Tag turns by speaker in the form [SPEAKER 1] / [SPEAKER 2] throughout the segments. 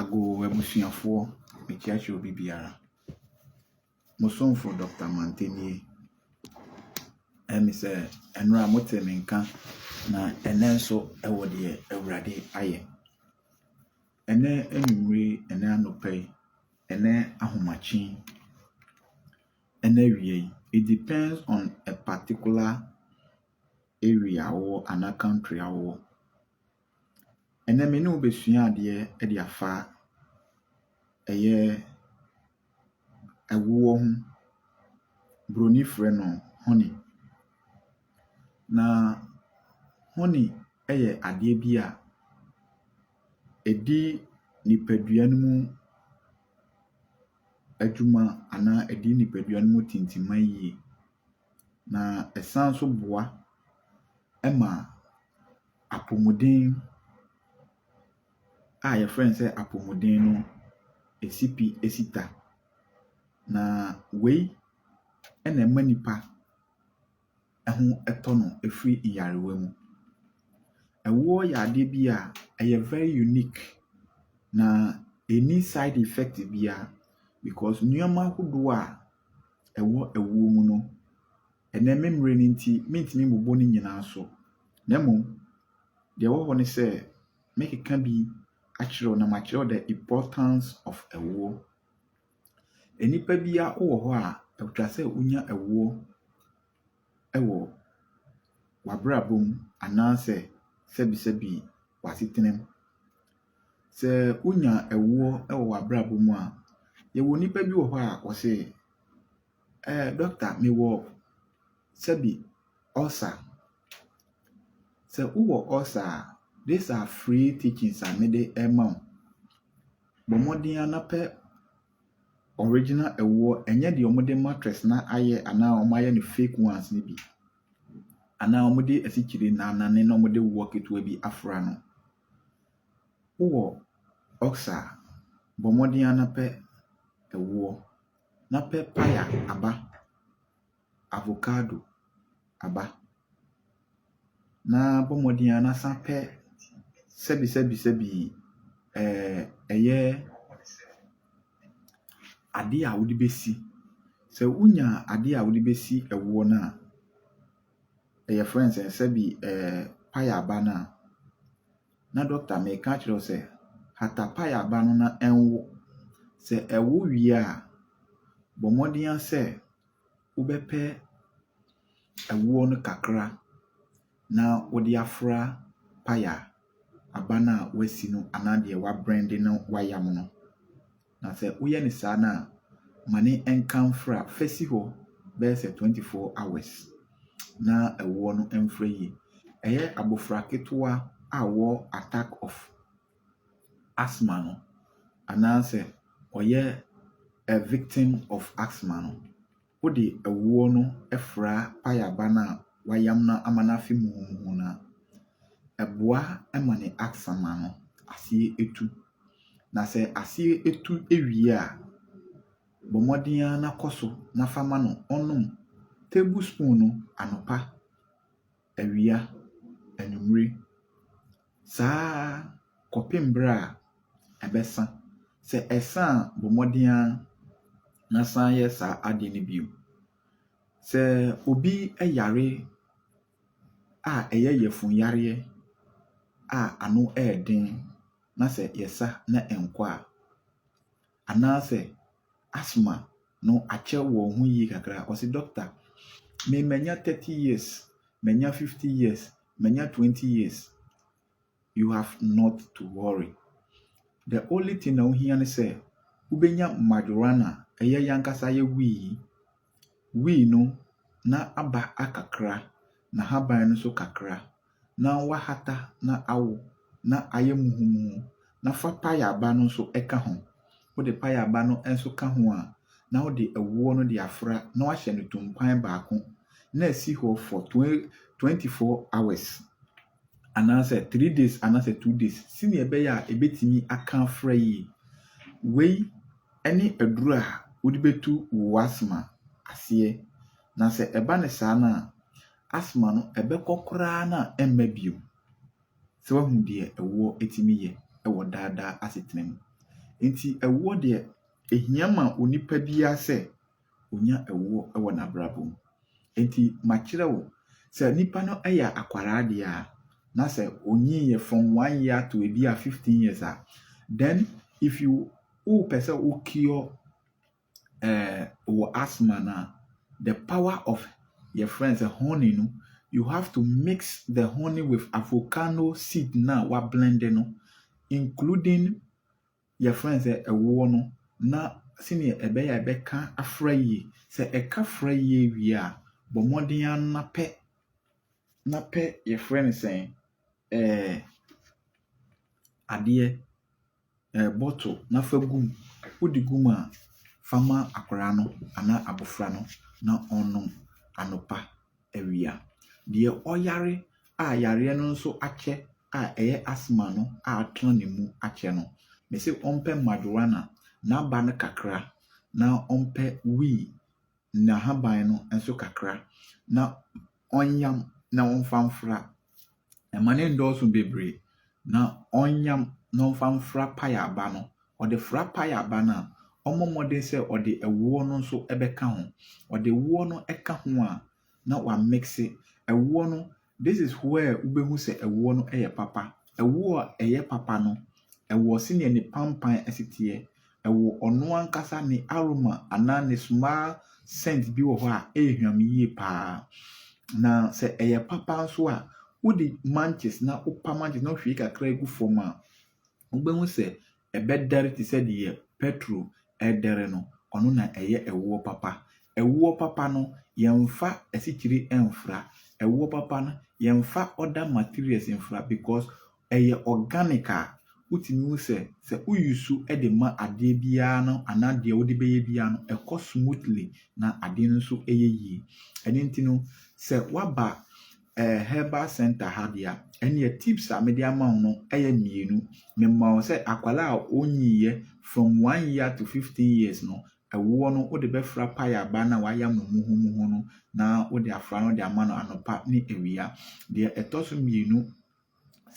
[SPEAKER 1] Agoo abusuafoɔ, mekyeakyerɛ obi biara. Mo somfo Dɔkta Mantɛ nie. Ɛyɛ me sɛ ɛnora a motee me nka na ɛnɛ nso ɛwɔ deɛ Awurade ayɛ. Ɛnɛ anwummere yi, ɛnɛ anɔpa yi, ɛnɛ ahomakye yi, ɛnɛ awia yi, it depends on a particular area a wowɔ anaa country a wowɔ. Ɛnnɛ me ne wo bɛsua adeɛ de afa ɛyɛ ɛwoɔ ho, broni frɛ no honey. Na honey yɛ adeɛ bi a ɛdi nipadua no mu adwuma anaa ɛdi nipadua no mu tintima yie. na ɛsan nso boa ma apomuden a wɔfrɛ no sɛ apomuden no si pi si ta, na wei na ɛma nipa ho tɔ no firi nyarewa mu. Ɛwoɔ yɛ adeɛ bi a ɛyɛ very unique, na ɛnni side effect biara because nneɛma ahodoɔ a. ɛwɔ ɛwoɔ mu no, ɛnnɛ me mmerɛ no nti mentumi mbobɔ ne nyinaa so, na mmom deɛ ɛwɔ hɔ ne sɛ mɛkeka bi akyerɛ wo na makyerɛ wo the importance of ɛwoɔ. Nnipa biara wowɔ hɔ a ɛtwa sɛ wonya ɛwoɔ. wɔ w'abrabɔ mu anaasɛ sɛbisɛbi w'asetena mu. Sɛ wonya ɛwoɔ wɔ w'abrabɔ mu a, yɛwɔ nnipa bi wɔ hɔ a wɔse, ɛɛ dɔkota mewɔ sɛbi ɔlsa. Sɛ wowɔ ɔlsa a, these are free teachings a mede rema wo. Bɔ mmɔden ara na pɛ. original ɛwoɔ ɛnyɛ deɛ wɔde mattress na ayɛ anaa wɔn ayɛ no fake ones no bi anaa wɔn de asikyire nanane na wɔn de woɔ ketewa bi afra no wowɔ ɔksa bɔ mmɔden ara na pɛ ɛwoɔ na pɛ paya aba. avocado aba, na bɔ mmɔden ara na san pɛ sɛbisɛbisɛbi ɛyɛ adeɛ a wode bɛsi. Sɛ wonya adeɛ a wode bɛsi ɛwoɔ no a, yɛfrɛ no sɛn, sɛbi paya aba no a, na dɔkota meka akyerɛ wo sɛ hata paya aba no na ɛnwo. Sɛ ɛwo wie a, bɔ mmɔden ara sɛ. wobɛpɛ ɛwoɔ no kakra na wode afra paya aba no a woasi no anaa deɛ woabrɛnde na woayam no. Na sɛ woyɛ no saa no a, ma no nka mfra, fa si hɔ bɛyɛ sɛ twenty four hours na ɛwoɔ no mfra yie. Ɛyɛ abɔfra ketewa a ɔwɔ attack of. asthma no anaasɛ ɔyɛ a victim of asthma no, wode awuo no fra payaba no a wayam no ama no afe muhumuhu no a, ɛboa ma ne asthma no aseɛ tu. Na sɛ aseɛ tu wie a, bɔ mmɔden ara na kɔ so na fa ma no ɔnom tablespoon anɔpa awia, anwummere, saa ara kɔpem berɛ a ɛbɛsa. Sɛ ɛsa a, bɔ mmɔden ara na san yɛ saa adeɛ no bio. Sɛ obi yare a ɛyɛ yafunyareɛ a ano yɛ den na sɛ yɛsa na ɛnkɔ a, Anaasɛ asthma no akyɛ wɔn ho yie kakra a, ɔse Dɔkta, me manya thirty years, manya fifty years, manya twenty years. You have not to worry. The only thing a wohia ne sɛ wobɛnya Majoranna, ɛyɛ yɛn ankasa yɛwui yi. Wii no, na aba akakra, n'ahaban no nso kakra. Ná wɔahata na awo, na ayɛ muhumuhu. Na fa payaba no nso ka ho. Wode payaba no nso ka ho a, na wode ɛwoɔ no de afra na woahyɛ no tumpan baako, na asi hɔ for twen twenty four hours. anaasɛ three days anaasɛ two days sɛnea ɛbɛyɛ a ebetumi aka afra yie. Wei ne aduru a wode bɛtu wo asthma aseɛ na sɛ ɛba no saa no a, asthma no ɛbɛkɔ koraa na ɛmma bio. Sɛ wahu deɛ ɛwoɔ ɛtumi yɛ wɔ daadaa asetena mu. Nti ɛwoɔ deɛ ɛhia ma onipa biara sɛ ɔnya ɛwoɔ wɔ n'abrabɔ mu. Enti makyerɛ wo, sɛ nipa no yɛ akwadaa deɛ a, na sɛ ɔnyiiɛ from one year to ebi a fifteen years a, then if you wopɛ sɛ wo cure eh, wɔ asthma no a, the power of your friends sɛ honey no, you have to mix the honey with avocado seed no a wablende no, including Yɛfrɛ no sɛ ɛwoɔ no na sɛdeɛ ɛbɛyɛ a ɛbɛka afra yie. Sɛ ɛka afra yie wie a, bɔ mmɔden ara na pɛ na pɛ yɛfrɛ no sɛn ɛɛ adeɛ ɛɛ bottle na fa gu mu. Wode gu mu a, fa ma akwadaa no anaa abɔfra no na ɔnnom anɔpa. awia. Deɛ ɔyare a yareɛ no nso akyɛ a ɛyɛ asthma no a atena ne mu akyɛ no, mese ɔmpɛ marijuana, n'aba no kakra, na ɔmpɛ wii, n'ahaban no nso kakra, na ɔnyam na ɔmfa mfra Mma no nndɔɔso bebree, na ɔnyam na ɔmfa mfra paeɛ aba no. Ɔde fra paeɛ aba no a, ɔmmɔ mmɔden sɛ ɔde ɛwoɔ no nso bɛka ho. Ɔde ɛwoɔ no ka ho a, na wa mekese ɛwoɔ no. This is where wobɛhu sɛ ɛwoɔ no yɛ papa. Ɛwoɔ a ɛyɛ papa no, ɛwɔ senea ne pampan si teɛ. ɛwɔ ɔno ankasa ne aroma anaa ne smell scent bi wɔ hɔ a ɛrehwam yie paa. Na sɛ ɛyɛ papa nso a, wode manches na wopa manches na wohwie kakra gu fam a, wobɛhu sɛ ɛbɛdɛre te sɛ deɛ petrol ɛredɛre no. Ɔno na ɛyɛ ɛwoɔ papa. Ɛwoɔ papa no, yɛmfa asikyire mfra. Ɛwoɔ papa no, yɛmfa other materials mfra because Ɛyɛ organic a, wotumi hu sɛ, sɛ wo use de ma adeɛ biara no anaa deɛ wode bɛyɛ biara no, ɛkɔ smoothly na adeɛ no nso yɛ yie. Ɛno nti no, sɛ woaba eh, herbal center ha deɛ a, ɛnneɛ tips a mede ama wo no yɛ mmienu. Mema wo sɛ akwadaa a ɔnyiiɛ from one year to fifteen years no, ɛwoɔ no wode bɛfra payaba no a wɔayam no muhumuhu no na wode afra no de ama no anɔpa ne awia. Deɛ ɛtɔ so mmienu,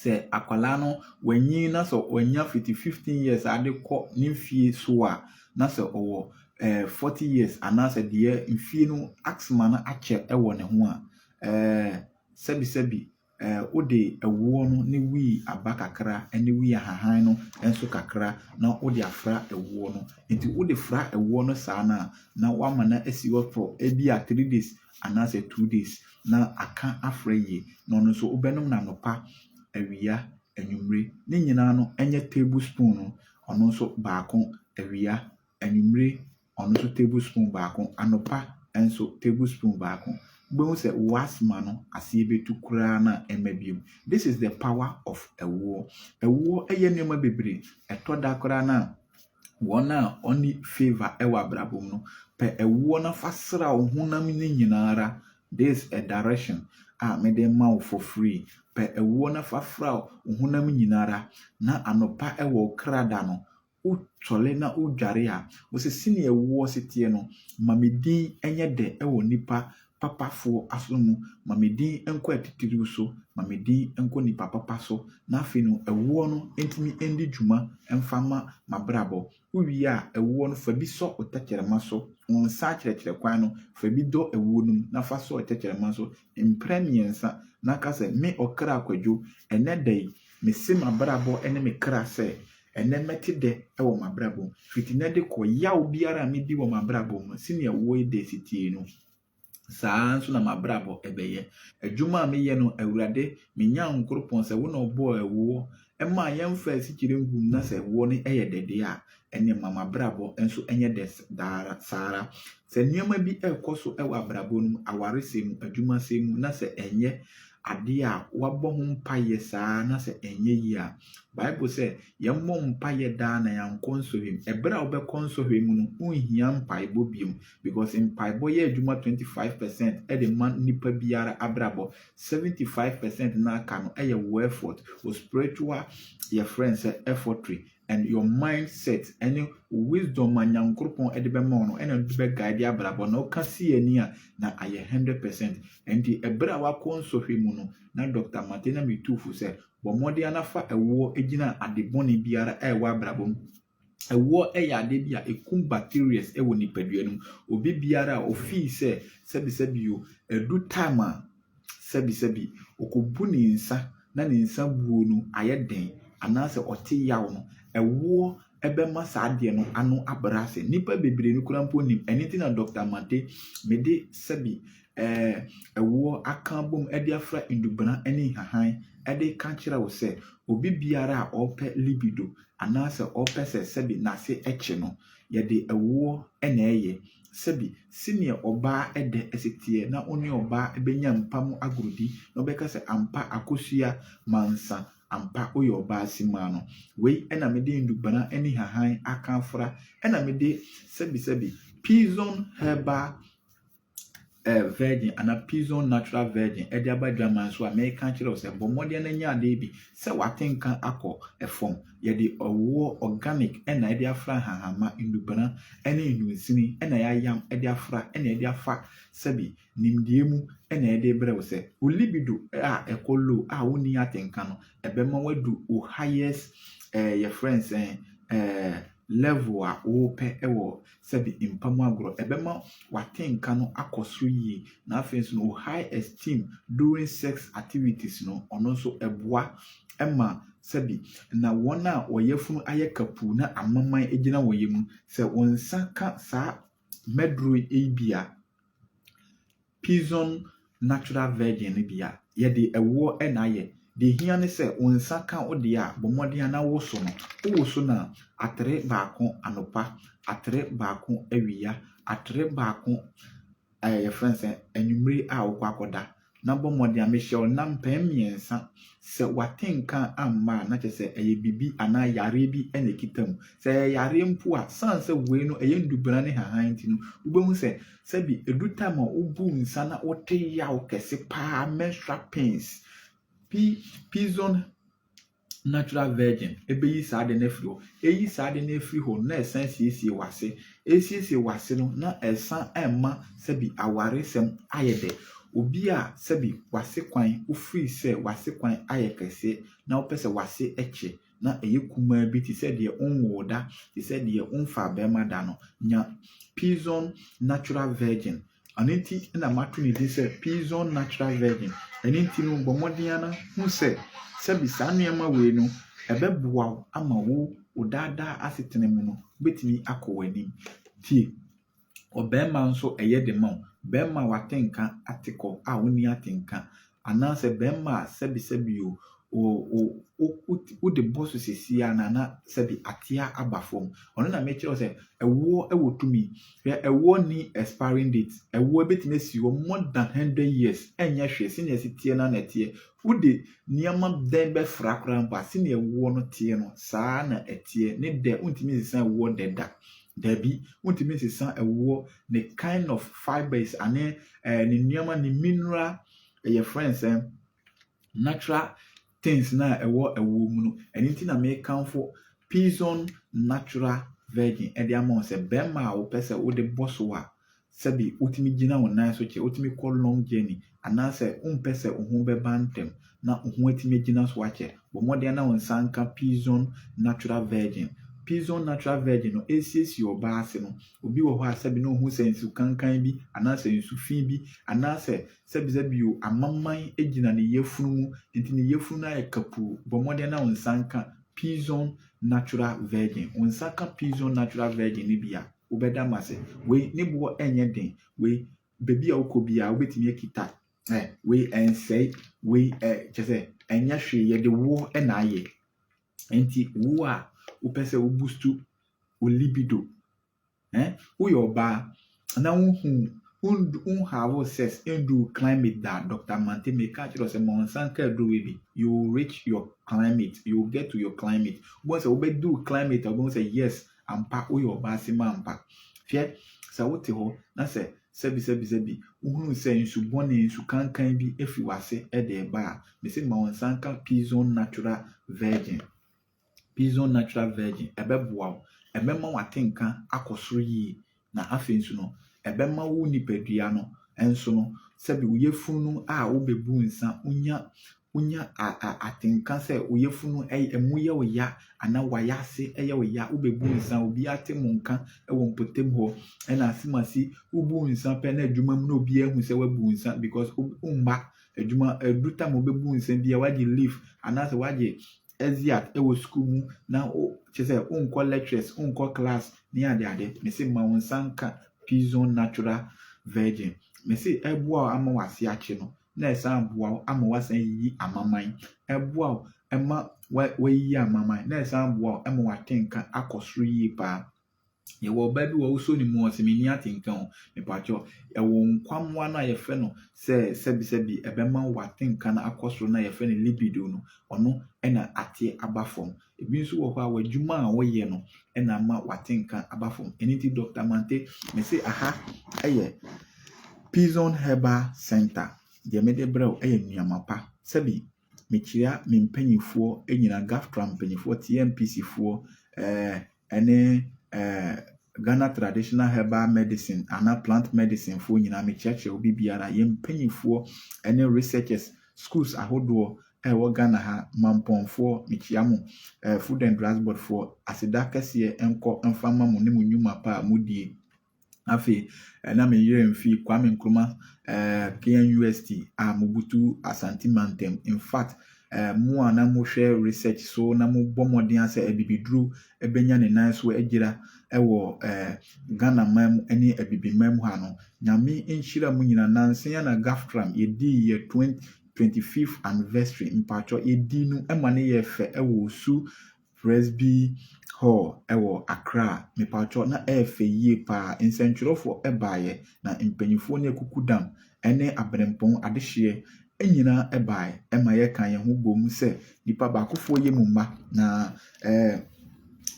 [SPEAKER 1] sɛ akwadaa no wanyin na sɛ wanya fiti fifteen years de kɔ ne mfeɛ so a, na sɛ ɔwɔ eh, forty years anaasɛ deɛ mfeɛ no asthma no akyɛ wɔ ne ho a, eh, sɛbisɛbi eh, wode ɛwoɔ no ne wii aba kakra ne wii ahahan no nso kakra na wode afra ɛwoɔ no. Nti wode fra ɛwoɔ no saa no a, na wama no asi hɔ for ebi a three days anaasɛ two days na aka afra yie na ɔno nso wobɛnom no anɔpa, awia, anwummere. Ne nyinaa no nyɛ table spoon no ɔno nso baako awia, anwummere ɔno nso table spoon baako, anɔpa nso table spoon baako. Wobɛhu sɛ wo asthma no aseɛ bɛtu koraa na ɛmma biom. This is the power of ɛwoɔ. Ɛwoɔ yɛ nneɛma bebree. Ɛtɔ da koraa no a, Wɔn a wɔnni favour wɔ abrabɔ mu no, pɛ ɛwoɔ na fa sra wo honam no nyina ara, this a direction a mede rema wo for free, pɛ ɛwoɔ na fa fra wo honam nyina ara, na anɔpa wɔ wo kra da no, wo sɔre na wo dware a, wo se, Senea ɛwoɔ se teɛ no, ma me din nyɛ dɛ wɔ nnipa papafoɔ aso mu, ma me din nkɔ atitiriw so, ma me din nkɔ nnipa papa so, na afei no ɛwoɔ no ntumi ndi dwuma mfa mma m'abrabɔ. Wowie a, ɛwoɔ no fa bi sɔ wo tɛkyerɛma so, wo nsa akyerɛkyerɛ kwan no, fa bi dɔ ɛwoɔ no mu na fa sɔ tɛkyerɛma so mprɛ mmiɛnsa na ka sɛ, Me ɔkra Kwadwo, ɛnnɛ da yi, mese m'abrabɔ ne me kra sɛ, Ɛnnɛ mɛte dɛ wɔ m'abrabɔ mu. Fiti nnɛ de kɔ, yaw biara a midi wɔ m'abrabɔ mu no, sɛnea woi de si teɛ no, saa ara nso na m'abrabɔ bɛyɛ. Adwuma a meyɛ no, Awurade, me Nyankoropɔn, sɛ wo na ɔbɔɔ ɛwoɔ maa yɛmfaa asikyire nguu mu na sɛ ɛwoɔ no yɛ dɛ deɛ a, ɛnneɛ ma m'abrabɔ nso nyɛ dɛ daa ara, saa ara. Sɛ nneɛma bi rekɔ so wɔ abrabɔ no mu, awaresɛm mu, adwumasɛm mu, na sɛ ɛnyɛ adeɛ a woabɔ ho mpaeɛ saa na sɛ ɛnyɛ yie a, Bible sɛ yɛmmɔ mpaeɛ daa na yɛankɔ nsɔhwɛ mu. Ɛberɛ a wobɛkɔ nsɔhwɛ mu no, wonhia mpaebɔ biom because mpaebɔ yɛ adwuma 25 percent de ma nipa biara abrabɔ, 75 percent no aka no yɛ wo effort, wo spiritual yɛfrɛ no sɛ effortry and your mind set ɛne wisdom a nyankoropɔn ɛde bɛma wo no ɛna ɛde bɛ guide abrabɔ na ɔka si yɛ ni a na ayɛ hundred percent ɛnti ɛbrɛ a wakɔ nsɔhwɛ mu no na Dr. Mate na me tuufo sɛ bɔ mmɔden ana fa ɛwoɔ ɛgyina ade bɔne biara a ɛwɔ abrabɔ mu ɛwoɔ ɛyɛ ade bi a ɛkum bacterias ɛwɔ nipadua no mu obi biara a ɔfii sɛ sɛbisɛbi o ɛdu time a Sɛbisɛbi, okobu ne nsa na ne nsa buo no ayɛ den anaasɛ ɔte yaw no, ɛwoɔ bɛma saa adeɛ no ano abrɛ ase. Nnipa bebree no koraa mpo nnim. Ɛno nti na Dɔkta Mate me de sɛbi ɛɛ ɛwoɔ aka abom de afra Ndubena ne Nhahan de reka akyerɛ wo sɛ, obi biara a ɔrepɛ libido anaasɛ ɔrepɛ sɛ sɛbi n'ase kye no, yɛde ɛwoɔ na ɛyɛ. sɛbi, senea ɔbaa dɛ si tseɛ na ɔne ɔbaa bɛnya mpa mu agordi na ɔbɛka sɛ ampa Akosua Mansa, ampa woyɛ ɔbaa simaa no. Wei na mede ndubana ne hahan aka afora, na mede sɛbi sɛbi, Pizon Herbal eh, virgin anaa pizon natural virgin de aba adwaman so a meka kyerɛ wo sɛ bɔ mmɔden na nya adeɛ bi sɛ wate nka akɔ fam yɛde ɔwoɔ organic na ɛde afra nhahanma nnubena ne nnunsini na yɛayam de afra na ɛde afa sɛbi nimdeɛ mu na ɛde brɛ wo sɛ wo libido a ɛkɔ low a wonni ate nka no ɛbɛma wadu wo highest eh, yɛfrɛ nsɛn eh, level a wopɛ wɔ sɛbe mpa mu agorɔ, ɛbɛma w'atenka no akɔ soro yie, na afei nso no wo high esteem during sex activities no, ɔno nso ɛboa ma sɛbe na wɔn a wɔn yafunu ayɛ kapuu na amaman gyina wɔn yam no, sɛ wo nsa ka saa mmɛduro yi bi a, Pizon Natural Virgin no bi a, yɛde ɛwoɔ na ayɛ. Deɛ ɛhia ne sɛ wo nsa ka wo deɛ a, bɔ mmɔden ara na woso no. Wowoso no a, atere baako anɔpa, atere baako awia, atere baako ɛɛ yɛfrɛ no sɛn, anwummere a wokɔ akɔda. Na bɔ mmɔden ara, mehyɛ wo nna mpɛn mmiɛnsa. Sɛ w'ate nka amma a, na kyerɛ sɛ ɛyɛ biribi anaa yareɛ bi na ɛkita mu. Sɛ ɛyɛ yareɛ mpo a, ɛsiane sɛ wei no ɛyɛ nnubɔna ne nhahan nti no, wobɛhu sɛ Sɛbi edu time a wobuu nsa na wote yaw kɛse paa menstrual pains pi pizon natural virgin ebeyi saa ade no afiri hɔ eyi saa ade no afiri hɔ na ɛsan asiesie w'ase esiesie w'ase no na ɛsan ɛmma sɛbi awaresɛm ayɛ dɛ obi a sɛbi w'ase kwan wofiri sɛ w'ase kwan ayɛ kɛse na wopɛ sɛ w'ase ɛkye na ɛyɛ kumaa bi te sɛ deɛ wonwoo da, te sɛ deɛ womfaa bɛrima da no, nya Pizon Natural Virgin. Ɛno nti na mato ne din sɛ Pizon Natural Virgin. Ɛno nti no, bɔ mmɔden ara hu sɛ sɛbi saa nneɛma wei no, ɛbɛboa wo ama wo wo daadaa asetena mu no, wobɛtumi akɔ w'anim. Tie, Ɔbarima nso ɛyɛ de ma wo. Barima a wate nka ate kɔ a wonni atenka anaasɛ barima a sɛbesɛbe o, o, o, o, wode bɔ so seesei ara na na sɛbe ateɛ aba fam. Ɔno na mekyerɛ wo sɛ ɛwoɔ wɔ tumi. Hwɛ, ɛwoɔ nni expiring date. Ɛwoɔ ɛbɛtumi asi hɔ more than hundred years, ɛnyɛ hwee. Sɛdeɛ ɛsi teɛ no ara na ɛteɛ. Wode nneɛma bɛn bɛfra koraa mpo a, sɛdeɛ ɛwoɔ no teɛ no, saa ara na ɛteɛ. Ne dɛ, wontumi nsesa ɛwoɔ dɛ da. Dabi, wontumi nsesa ɛwoɔ, ne kind of fibres ane ɛɛ ne nneɛma ne mineral ɛyɛ friends ɛn natural things na ɛwɔ ɛwoɔ mu no. Ɛno nti na mekamfo Pizon natural virgin ɛde ama wo sɛ bɛrima a wopɛ sɛ wode bɔ so a Sɛbi wotumi gyina wo nan so kyɛ, wotumi kɔ long journey, anaasɛ wompɛ sɛ wo ho bɛba ntɛm na wo ho atumi agyina so akyɛ. Bɔ mmɔden na wo nsa nka Pizon Natural Virgin. Pizon Natural Virgin no resiesie ɔbaa ase no. Obi wɔ hɔ a sɛbi na ohu sɛ nsu kankan bi anaasɛ nsu fi bi anaasɛ sɛbisɛbi o, amamman gyina ne yafunu mu, enti ne yafunu no ayɛ kapuu. Bɔ mmɔden na wo nsa nka Pizon Natural Virgin. Wo nsa ka Pizon Natural Virgin no bi a, Wobɛda mo ase. Wei ne boɔ ɛnyɛ den. Wei baabi a wokɔ biara wobɛtumi akita. Ɛ wei ɛnsɛe. Wei ɛ kyɛ sɛ ɛnyɛ hwee yɛde woɔ na ayɛ. Nti wo a wopɛ sɛ wo boost wo libido ɛ woyɛ ɔbaa na wohu wondu wonhave sex ndu wo climate da a Doctor Mante meka akyerɛ wo sɛ ma wo nsa nka aduro wei bi you will reach your climate you will get to your climate wobɛhu sɛ wobɛdu wo climate a wobɛhu sɛ yes Ampa woyɛ ɔbaa simma ampa. Hwɛ, sɛ wote hɔ na sɛ sɛbisɛbisɛbi wohunu sɛ nsu bɔne, nsu kankan bi afi w'ase de reba a, mese ma wo nsa nka Pizone Natural Virgin. Pizone Natural Virgin, ɛbɛboa wo. Ɛbɛma w'atenka akɔ soro yie. Na afei nso no, ɛbɛma wo nipadua no nso no, sɛbe wo yafunu a wobebu nsa, wonya wonya atenka sɛ wo yafunu ɛmu yɛ wo ya anaa wayɛ ase ɛyɛ wo ya, wobebu nsa, obi ate mo nka ɛwɔ mpɔtam hɔ, ɛna asemase wobu nsa pɛ na adwuma mu na obi ahu sɛ wabu nsa because womma adwuma ɛdu tam obebu nsa bia wagye leave anaasɛ wagye adzi a wɔ sukuu mu na wo kyerɛ sɛ wonkɔ lectures, wonkɔ class ne ade ade. Mese ma wo nsa nka P-zone Natural Virgin. Mese ɛboa wo ama w'ase akye no na ɛsan boa wo ama woasan ayiyi amaman. Ɛboa wo ma woayiyi amaman na ɛsan boa wo ma woate nka akɔ soro yie paa. Yɛwɔ ɔbaa bi wɔ wosɔ ne mu ɔse menni atenka o mepakyɛ yɛwɔ nkwammoa no a yɛfrɛ no sɛ sɛbisɛbi ɛbɛma w'atenka no akɔ soro no a yɛfrɛ no libido no ɔno ɛna ateɛ aba fam ebi nso wɔ hɔ a w'adwuma a woyɛ no ɛna ama w'atenka aba fam ɛno nti Dr. Mante mese aha ɛyɛ Pizon Herbal Center deɛ mede brɛ wo ɛyɛ nnuama pa sɛbi Mekyia me mpanimfoɔ nyinaa, GAFTRA mpanimfoɔ, TMPC foɔ, ɛɛ ɛne ɛɛ Ghana Traditional Herbal Medicine anaa Plant Medicine foɔ nyinaa. Mekyerɛkyerɛ obi biara, yɛn mpanimfoɔ ɛne researchers, schools ahodoɔ ɛwɔ Ghana ha, mampɔnfoɔ, mekyia mo, ɛɛ Food and Drugs Board foɔ, aseda kɛseɛ nkɔ mfa ma mo ne mo nnwuma pa a modie. Afei na me werɛ mfi Kwame Nkrumah eh, KNUST a mobutu Asante mantam. In fact, eh, mo a na mohwɛ research so na mobɔ mmɔden a sɛ abibiduro bɛnya ne nan so agyira wɔ eh, Ghana man mu ne Abibiman mu ha no, Nyame nhyira mo nyina. Nansa yi na GAFTRAM yɛdii yɛ 20, 25th anniversary, mpaatwɔ, yɛdii no ma no yɛɛ fɛ wɔ Osu Presby Hall wɔ Accra. Mepakyɛw, na ɛyɛ fɛ yiye paa. Nsɛntwerɛfo baeɛ, na mpanyimfoɔ ne akukudam ne abirɛmpɔn adehyeɛ nyinaa baeɛ ma yɛkaa yɛn ho boom sɛ nnipa baakofoɔ yɛ mu mma, na ɛɛ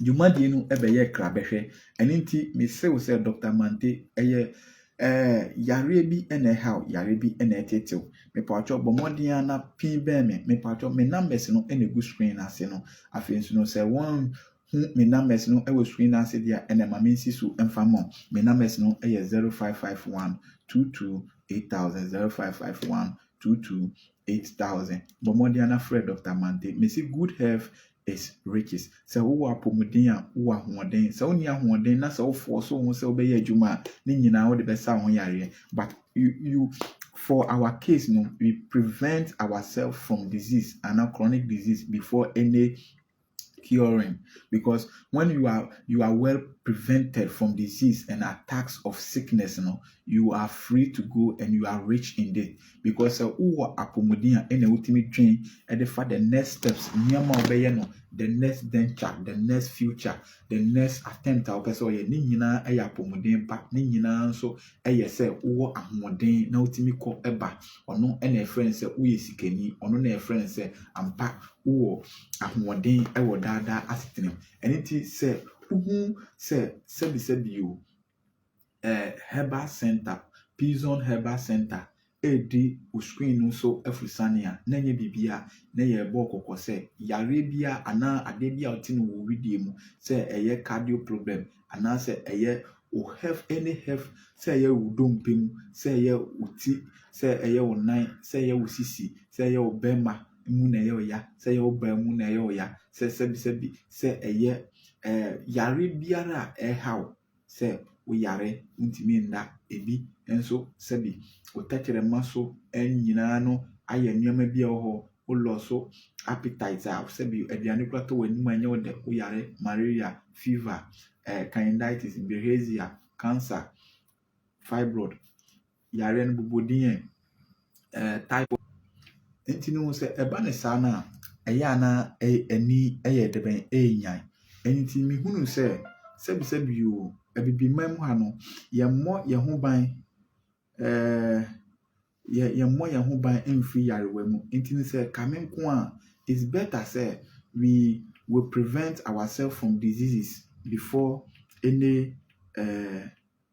[SPEAKER 1] dwumadie no bɛyɛɛ krabɛhwɛ. Ɛno nti, meserew sɛ Dɔkta Mante yɛ Ɛɛ, yareɛ bi na ɛhaw, yareɛ bi na ɛtete wo. Mepatwɔ bɔ mmɔden ara na pin bɛn me. Mepatwɔ me numbers no na ɛgu screen no ase no. Afei nso no, sɛ wɔnhu me numbers no wɔ screen no ase deɛ a, ɛnna ma mensi so mfa mma wo. Me numbers no yɛ 0551 22 8000, 0551 22 8000. Bɔ mmɔden ara na frɛ Dɔkta Mante. Mese good health is riches. Sɛ wowɔ apɔmuden a, wowɔ ahoɔden. Sɛ wonni ahoɔden na sɛ wo force wo ho sɛ wobɛyɛ adwuma a, ne nyinaa wode bɛsa wo ho yareɛ. But you, you, for our case no, we prevent ourselves from disease and a chronic disease before any curing because when you are you are well prevented from disease and attacks of sickness you know, you are free to go and you are rich indeed Because sɛ wowɔ apɔmuden a ɛna wotumi dwen de fa the next steps, nneɛma a wobɛyɛ no, the next venture, the next future, the next attempt a wopɛ sɛ ɔyɛ. Ne nyinaa yɛ apɔmuden ba. Ne nyinaa nso yɛ sɛ wowɔ ahoɔden na wotumi kɔ ba. Ɔno na ɛfrɛ no sɛ woyɛ sikani. Ɔno na ɛfrɛ no sɛ ampa wowɔ ahoɔden wɔ daadaa asetenam. Ɛno nti sɛ wohu sɛ sɛbisɛbi o, eh, Herbal Center, Pizon Herbal Center redi wo screen no so afurusane a, na ɛnyɛ biribi a na yɛrebɔ wo kɔkɔ sɛ yareɛ bi a anaa adeɛ bi a wote no wɔ wo wedeɛ mu sɛ ɛyɛ cardio problem anaasɛ ɛyɛ wo hef any hef sɛ ɛyɛ wo dompe mu sɛ ɛyɛ wo ti sɛ ɛyɛ wo nan sɛ ɛyɛ wo sisi sɛ ɛyɛ wo bɛrima mu na ɛyɛ ɔya sɛ ɛyɛ wo baa mu na ɛyɛ ɔya sɛ sɛbisɛbi sɛ ɛyɛ ɛɛ eh, yareɛ biara a ɛreha wo sɛ wo yare ntumi nna adi nso sɛbi wo tɛkyerɛma so nyinaa no ayɛ nneɛma bi a ɛwɔ hɔ, wo lɔ so appetite a sɛbi aduane kora tɔ w'anim a ɛnyɛ wo dɛ, wo yare, malaria, fever, eh, candidiatis, bilharzia, cancer, fibroid. yareɛ no bobɔ din yɛ ɛɛ typhoid. Nti no sɛ ɛba no saa no a, ɛyɛ a na ani yɛ dɛbɛn, ɛrenyan. Ɛno nti mehunuu sɛ sɛbisɛbi o, Abibiman mu ha no, yɛmmɔ yɛn ho ban ɛɛ yɛ yɛmmɔ yɛn ho ban mfiri yarewa mu. Nti no sɛ kame nko a, it's better sɛ we we prevent ourselves from diseases before any ɛɛ.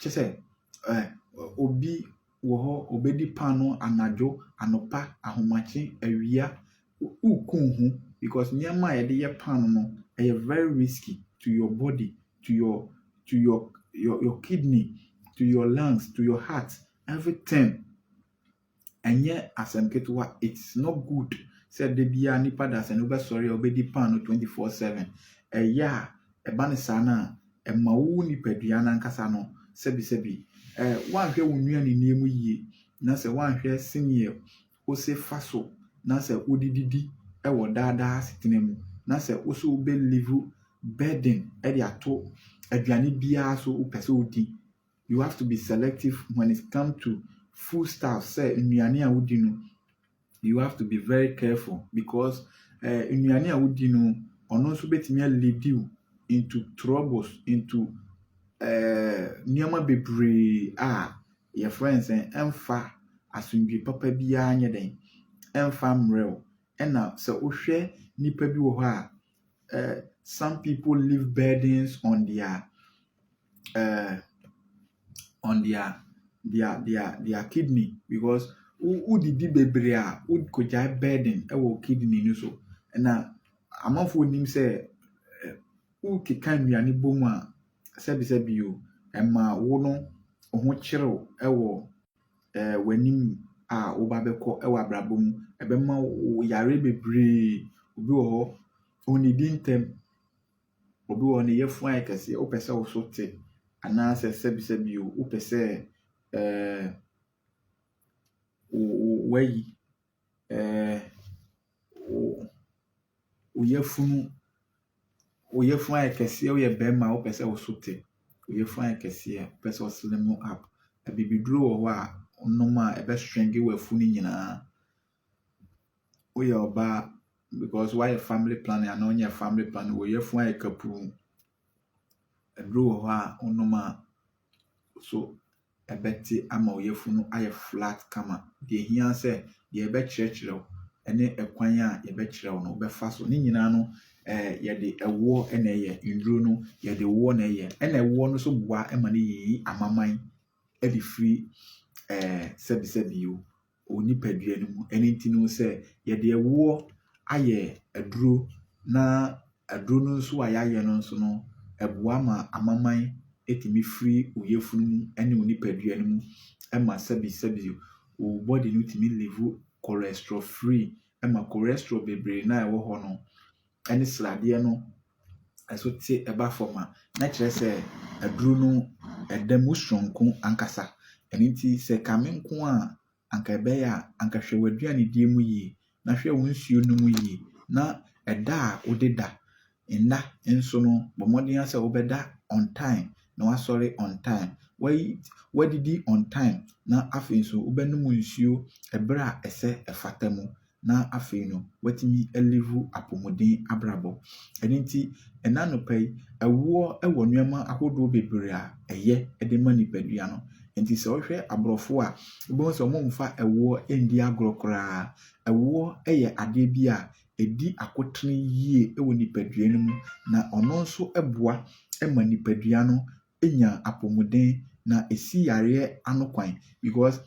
[SPEAKER 1] kyerɛ sɛ, ɛ, obi wɔ hɔ, ɔbɛdi paanoo anadwo, anɔpa, ahomakye, awia, woku wo ho because nneɛma a yɛde yɛ paanoo no, ɛyɛ very risky to your body, to your, to your, your, your kidney, to your lungs, to your heart, everything. Ɛnyɛ asɛm ketewa, it's not good sɛ da biara nnipa dasani wobɛsɔre a wobɛdi paano twenty four seven. Ɛyɛ a, ɛba no saa no a, ɛma wo nipadua no ankasa no sɛbisɛbi. Eh, woanhwɛ wo nnuanennie mu yie, na sɛ woanhwɛ seneɛ wose fa so na sɛ wode didi wɔ daa daa asetena mu, na sɛ wo so wobɛ live burden de ato aduane biara so wopɛ sɛ wodi you have to be selective when it come to food stuff sɛ nnuane a wodi no you have to be very careful because uh, nnuane a wodi no ɔno nso betumi lead you into troubles into uh, nneɛma bebree a yɛfrɛ no sɛ ɛmfa asomdwe papa biara nyɛ dɛn ɛmfa mmerɛw ɛna sɛ wohwɛ nipa bi wɔ hɔ a eh, some people leave burdens on their eh, on their their their their kidney because wodidi bebree a wokɔgyae burden wɔ kidney no so na amanfoɔ nim sɛ eh, wokeka nnuane bɔ mu a sɛbisɛbi o ɛma wo no ho kyerew wɔ ɛɛ w'anim a woba bɛkɔ wɔ abrabɔ mu. Ɛbɛma wo yareɛ bebree. Obi wɔ hɔ, onnidi ntɛm. Obi wɔ hɔ, ne yafunu ayɛ kɛse. Wopɛ sɛ wo so te anaasɛ sɛbisɛbi o, wopɛ sɛ ɛɛ wo wo woayi. ɛɛ wo wo yafunu, wo yafunu ayɛ kɛseɛ, woyɛ barima a wopɛ sɛ wo so te, wo yafunu ayɛ kɛseɛ a wopɛ sɛ wo slim up. Abibiduro wɔ hɔ a wonom a ɛbɛ shrink w'afunu no nyinaa. Woyɛ ɔbaa because woayɛ family planning anaa wonyɛɛ family planning, wo yafunu ayɛ kapuu. Aduro wɔ hɔ a wonom a wo so ɛbɛte ama wo yafunu no ayɛ flat kama. Deɛ ɛhia ara sɛ deɛ yɛbɛkyerɛkyerɛ wo ne ɛkwan a yɛbɛkyerɛ wo no wobɛfa so. Ne nyinaa no, eh, yɛde ɛwoɔ na ɛyɛ. Nnuro no, yɛde woɔ na ɛyɛ. Ɛna ɛwoɔ no nso boa ma no yiyi amaman de firi eh, sɛbisɛbi o, wɔ nipadua no mu. Ɛno nti no sɛ yɛde ɛwoɔ ayɛ aduro na aduro no nso a yɛayɛ no nso no, ɛboa ma amaman tumi firi wo yafunu mu ne wo nipadua no mu ma sɛbesɛbe wo body no tumi live cholesterol free ma cholesterol bebree no a ɛwɔ hɔ no, ne sradeɛ no nso te ba fam a, na kyerɛ sɛ aduro no da mu sononko ankasa. Ɛno nti, sɛ kame nko a anka ɛbɛyɛ a, anka hwɛ w'aduanedie mu yie, na hwɛ wo nsuo nom yie, na ɛda a wode da nna nso no, bɔ mmɔden ara sɛ wobɛda on time na woasɔre on time. Woayi, woadidi on time, na afei nso wobɛnom nsuo berɛ a ɛsɛ ɛfata mu. na afei no watumi alivu apomuden abrabɔ. Ɛno nti, ɛnnɛ anɔpa yi, ɛwoɔ wɔ nneɛma ahodoɔ bebree a ɛyɛ de ma nipadua no. Nti sɛ wohwɛ aborɔfo a, wobɛhu sɛ wɔmfa ɛwoɔ nni agorɔ koraa. Ɛwoɔ yɛ adeɛ bi a ɛdi akotene yie wɔ nipadua no mu, na ɔno nso boa ma nipadua no nya apomuden, na ɛsi yareɛ ano kwan because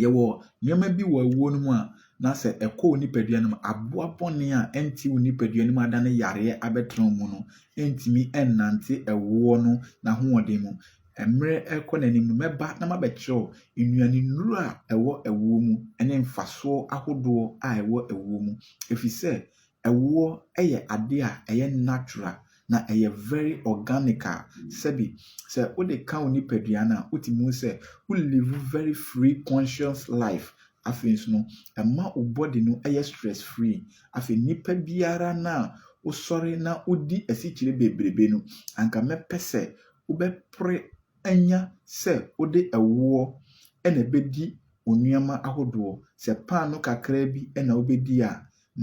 [SPEAKER 1] Yɛwɔ nneɛma bi wɔ awuo no mu a, na sɛ ɛkɔ wo nipadua no mu a, aboa bɔne a ɛnte wo nipadua no mu adane yareɛ abɛtena wo mu no ntumi nnante ɛwoɔ no n'ahoɔden mu. Mmerɛ rekɔ n'anim no, mɛba na mabɛkyerɛ wo nnuanennuro a ɛwɔ awuo mu ne mfasoɔ ahodoɔ a ɛwɔ awuo mu. Ɛfiri sɛ, Ɛwoɔ yɛ adeɛ a ɛyɛ natural na ɛyɛ very organic a sɛbi sɛ wode ka wo nipadua no a wotumi hu sɛ wo live very free conscious life. Afei nso no ɛma wo body no yɛ stress free. Afei nipa biara no a wosɔre na wodi asikyire bebrebe no anka mɛpɛ sɛ wobɛpre anya sɛ wode ɛwoɔ na ɛbɛdi wo nnoɔma ahodoɔ. Sɛ paano kakraa bi na wobɛdi a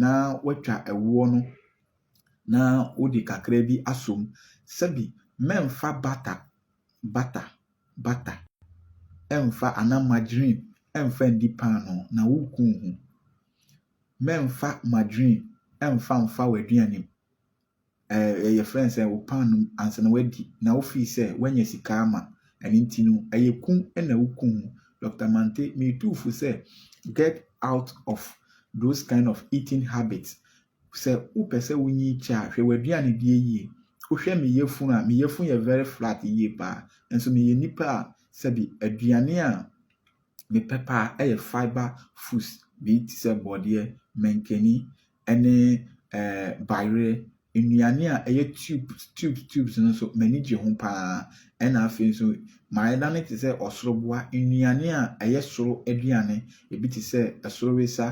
[SPEAKER 1] na woatwa ɛwoɔ no na wode kakra bi asɔ mu. Sɛbi mɛmfa bata bata bata ɛmfa anaa margarine ɛmfa ndi paanoo na woku wo ho. Mɛmfa margarine ɛmfa mfa w'aduane mu. ɛɛ yɛfrɛ no sɛ wo paanoo mu ansa na woadi na wofii sɛ woanya sika ama ɛno nti no ɛyɛ kum na wokum wo Doctor Mante metu fo sɛ get out of those kind of eating habits sɛ wopɛ sɛ wonyi kyɛ a hwɛ w'aduane die yie wohwɛ me yafunu a me yafunu yɛ very flat yie paa nso meyɛ nipa a sɛbi aduane a Me pɛ paa yɛ fibre foods bi te sɛ borɔdeɛ, mankani ne ɛɛ bayerɛ. Nnuane a ɛyɛ tubes tubes tubes no nso m'ani gye ho paa. Ɛna afei nso mayɛ no ara te sɛ ɔsoro boa. Nnuane a ɛyɛ soro aduane, ebi te sɛ ɛsoro wesa,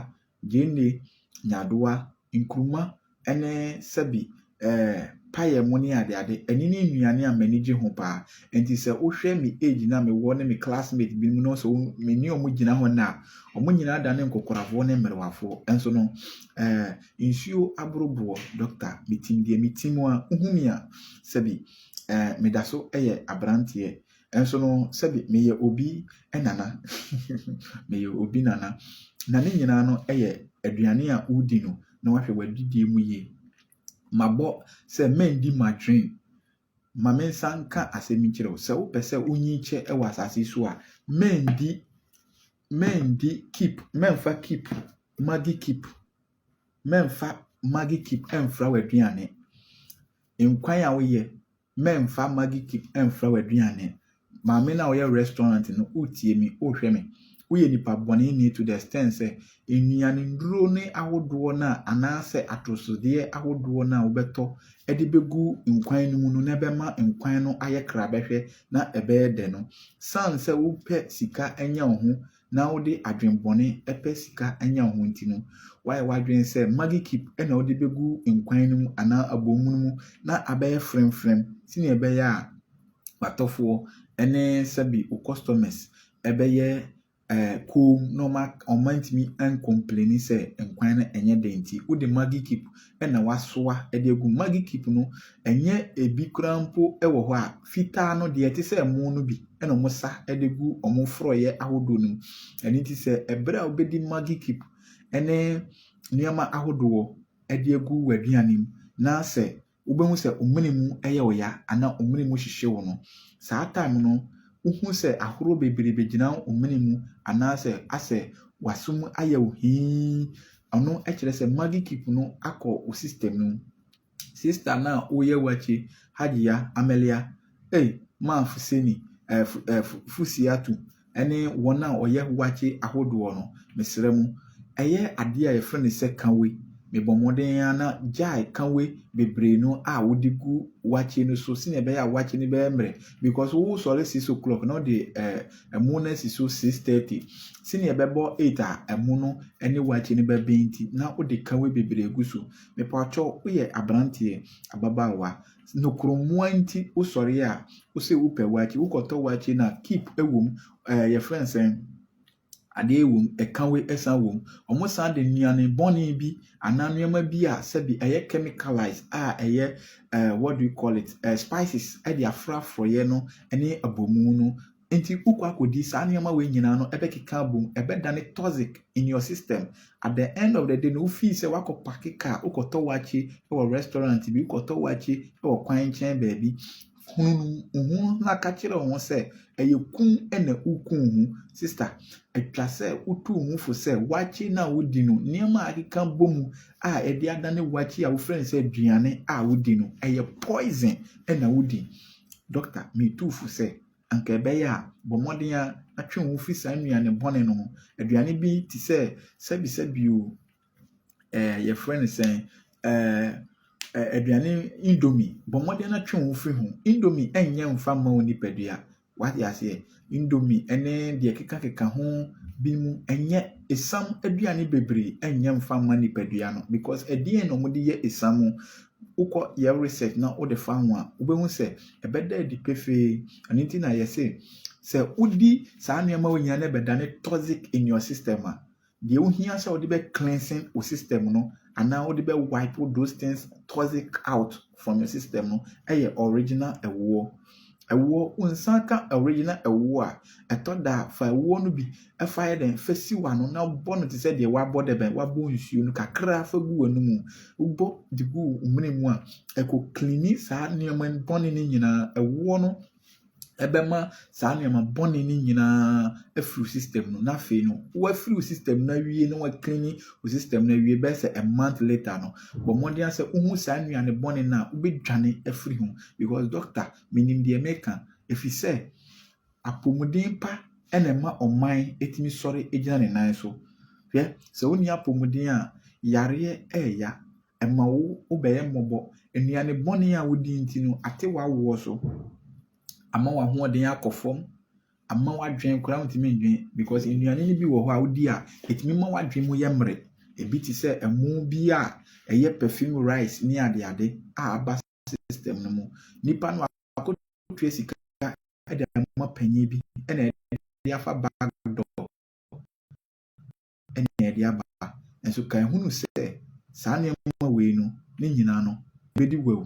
[SPEAKER 1] Gyeene, nyaadowa, nkruma ne sɛbi eh, payɛ mo ne ade ade. Ɛne ne nnuane a m'ani gye ho paa. Enti sɛ wohwɛ me age no a mewɔ ne me classmate binom no sɛ me ne wɔn gyina hɔ nnɛ a, wɔn nyinaa adane nkokorafoɔ ne mmerewafoɔ. Nso no, eh, nsuo aboro boɔ, Doctor, metim deɛ metim a, wohu me a, sɛbi eh, meda so yɛ aberanteɛ. Nanso no, sɛbi meyɛ obi nana. meyɛ obi nana. Na ne nyinaa no yɛ aduane a wodi no na wahwɛ w'adidie mu yie. Mabɔ sɛ mɛndi madwen. Ma me nsa nka asɛm yi nkyerɛ wo. Sɛ wopɛ sɛ wonyin kyɛ wɔ asase so a, mɛndi mɛndi keep mɛmfa keep magi keep mɛmfa magi keep ɛmfra w'aduane. Nkwan a woyɛ Mɛmfa maggi cube mfra w'aduane. Maame no a ɔyɛ restaurant no, wotie me, wohwɛ me. Woyɛ nipa bɔneni to the extent sɛ nnuane nnuro no ahodoɔ no a anaasɛ atosodeɛ ahodoɔ no a wobɛtɔ de bɛgu nkwan no mu no na ɛbɛma nkwan no ayɛ krabɛhwɛ na ɛbɛyɛ dɛ no, sane sɛ wopɛ sika anya wo ho na wode adwene bɔne pɛ sika nya wo ho nti no, woayɛ w'adwene sɛ Maggi Kip na wode bɛgu nkwan no mu anaa abomu no mu na abɛyɛ fremfrem sɛnea ɛbɛyɛ a w'atɔfoɔ ne sɛbi wo customers bɛyɛ eh, koom na wɔn antumi ankompleni sɛ nkwan no ɛnyɛ den nti wode Maggi Kip na wɔasoa de agu mu. Maggi cube no, ɛnyɛ ebi koraa mpo wɔ hɔ a, fitaa no, deɛ ɛte sɛ ɛmo no bi na wɔsa de gu wɔn forɔeɛ ahodoɔ no mu. Ɛno nti sɛ ɛberɛ a wobɛdi Maggi cube ne nneɛma ahodoɔ de agu w'aduane mu na sɛ wobɛhu sɛ wo mene mu yɛ wo ya anaa wo mene mu hyehye wo no, saa time no wohu sɛ ahorow bebree bɛgyina wo mene mu anaasɛ asɛ w'aso mu ayɛ wo hii Ɔno kyerɛ sɛ maggi cube no akɔ wo system no mu. Sister no a woyɛ wakye, Hajia Amelia, ei, maa Fuseni, eh, fu, eh, fu, Fusiatu, ne wɔn a wɔyɛ wakye ahodoɔ no, mesrɛ mo, ɛyɛ adeɛ a yɛfrɛ no sɛ kawe. Mebɔ mmɔden ara na gyae kawe bebree no a wode gu wakye no so sɛnea ɛbɛyɛ a wakye no bɛyɛ mmerɛ because wosɔre six o'clock na wode eh, ɛmo no asi so six thirty sɛnea ɛbɛbɔ eight a ɛmo no ne waakye no bɛbɛn nti na wode kawe bebree gu so mepatwɔ woyɛ aberanteɛ ababaawa nokorɔmmoa nti wosɔre a wosɛ wopɛ waakye wokɔtɔ waakye no a keep ɛwom ɛɛ yɛfrɛ nsɛn adeɛ ɛwom ɛkawe ɛsan wom wɔn san de nnuane bɔne bi anaa nneɛma bi a sɛbi ɛyɛ chemicalized a ɛyɛ uh, what do you call it uh, spices ɛde afrafrɔyɛ no ɛne abomu no nti wokɔ akɔdi saa nneɛma wei nyinaa no ɛbɛkeka abom ɛbɛdane toxic in your system at the end of the day no wofii sɛ wakɔ pake car wokɔtɔ wakye wɔ restaurant bi wokɔtɔ wakye wɔ kwan nkyɛn baabi Hunu ho na ka kyerɛ wo ho sɛ ɛyɛ kum na wukum ho. Sista, ɛtwa sɛ wotu wo ho fo sɛ wakye no a wudi no, nneɛma a akeka bɔ mu a ɛde adane wakye a wofrɛ no sɛ aduane a wodi no, ɛyɛ poison na wudi. Dɔkta, mitu wo fo sɛ, anka ɛbɛyɛ a, bɔ mmɔden ara na twe wo ho fi saa nnuane bɔne no ho. Aduane bi te sɛ sɛbesɛbe oo, yɛfrɛ no sɛn, aduane indomie, bɔ mmɔden na twe wo ho firi ho. Indomie nyɛ mfa mma wo nipadua. Wate aseɛ? Indomie ne deɛ ɛkekakeka ho binom nyɛ esiam aduane bebree nyɛ mfa mma nipadua no because ɛdeɛn na wɔde yɛ esiam? Wokɔ yɛ research na wode fa ho a, wobɛhu sɛ ɛbɛda adi pefee. Ɛno nti na yɛse sɛ wodi saa nneɛma wei nyinaa na ɛbɛdane toxic in your system a, Deɛ wohia sɛ wode bɛ cleansing wo system no anaa wode bɛ wipe those things toxic out from your system no yɛ original ɛwoɔ. Ɛwoɔ, wo nsa ka original ɛwoɔ a, ɛtɔ da a fa ɛwoɔ no bi fa yɛ dɛn fa si w'ano na bɔ no te sɛ deɛ wabɔ dɛ bɛn wabɔ nsuo no kakra fa gu w'anomu. Wobɔ de gu wo mene mu a, ɛkɔ cleani saa nneɛma bɔne no nyinaa. Ɛwoɔ no ɛbɛma saa nneɛma bɔne no nyinaa afiri wo system no na afei no woafiri wo system no awie na woaklini wo system no awie bɛyɛ sɛ a month later no bɔ mmɔden ara sɛ wohu saa nnuane bɔne no a wobɛdwane afiri ho because doctor menim deɛ meka ɛfiri sɛ apɔmuden pa ɛna ɛma ɔman ɛtumi sɔre gyina ne nan so hwɛ sɛ wonni apɔmuden a yareɛ ɛɛya Ɛma wo wo bɛyɛ mmɔbɔ. Nnuane bɔne a wodi nti no, ate w'awoɔ so. Ama w'ahoɔden akɔ fam. Ama w'adwene koraa wontumi ndwene because nnuane no bi wɔ hɔ a wodi a, ɛtumi ma w'adwene mu yɛ mmere. Ebi te sɛ ɛmo bi a ɛyɛ perfume rice ne adeade a aba system no mu. Nipa no akɔtua sika de ama panyin bi na ɛde afa back door. na ɛde aba. Nanso kae hunu sɛ saa nneɛma wei no, ne nyinaa no, ebedi wawu.